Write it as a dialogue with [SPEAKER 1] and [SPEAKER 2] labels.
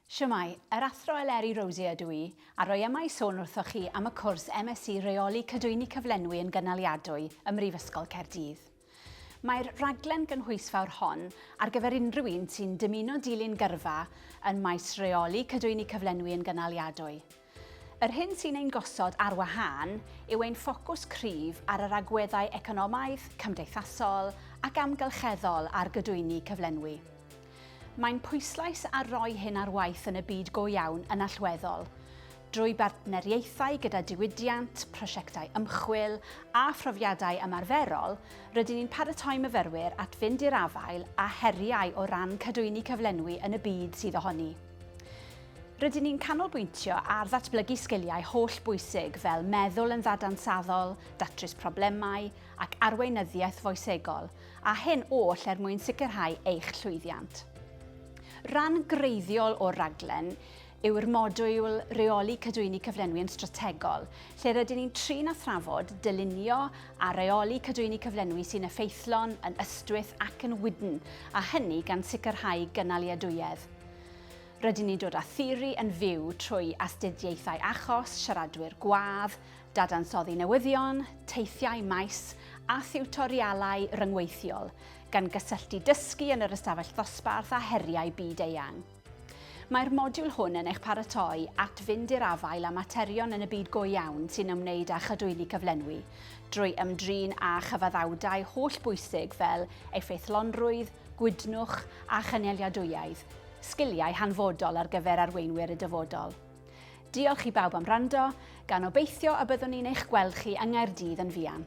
[SPEAKER 1] Shwmae, yr Athro Eleri Rosier ydw i, a rwy yma i sôn wrthoch chi am y cwrs MSc Rheoli Cadwyni Cyflenwi yn Gynaliadwy ym Mhrifysgol Caerdydd. Mae'r rhaglen gynhwysfawr hon ar gyfer unrhyw un sy'n dymuno dilyn gyrfa yn maes Rheoli Cadwyni Cyflenwi yn Gynaliadwy. Yr hyn sy'n ein gosod ar wahân yw ein ffocws cryf ar yr agweddau economaidd, cymdeithasol ac amgylcheddol ar gydwyni cyflenwi. Mae'n pwyslais ar roi hyn ar waith yn y byd go iawn yn allweddol, drwy bartneriaethau gyda diwydiant, prosiectau ymchwil a phrofiadau ymarferol, rydyn ni'n paratoi myfyrwyr at fynd i'r afael â heriau o ran cadwyni cyflenwi yn y byd sydd ohoni. Rydyn ni'n canolbwyntio ar ddatblygu sgiliau holl bwysig fel meddwl yn ddadansaddol, datrys problemau ac arweinyddiaeth foesegol, a hyn oll er mwyn sicrhau eich llwyddiant. Rhan greiddiol o'r rhaglen yw'r modiwl Reoli Cadwyni Cyflenwi yn Strategol, lle rydyn ni'n trin a thrafod, dylunio a reoli cadwyni cyflenwi sy'n effeithlon, yn ystwyth ac yn wydn, a hynny gan sicrhau gynaliadwyedd. Rydyn ni'n dod â theori yn fyw trwy astudiaethau achos, siaradwyr gwadd, dadansoddi newyddion, teithiau maes a thiwtorialau ryngweithiol, gan gysylltu dysgu yn yr ystafell ddosbarth â heriau byd eang. Mae'r modiwl hwn yn eich paratoi at fynd i'r afael â materion yn y byd go iawn sy'n ymwneud â chadwyni cyflenwi, drwy ymdrin â chyfaddawdau holl bwysig fel effeithlonrwydd, gwytnwch a chynaliadwyaidd, sgiliau hanfodol ar gyfer arweinwyr y dyfodol. Diolch i bawb am rando, gan obeithio y byddwn ni'n eich gweld chi yng Nghaerdydd yn fuan.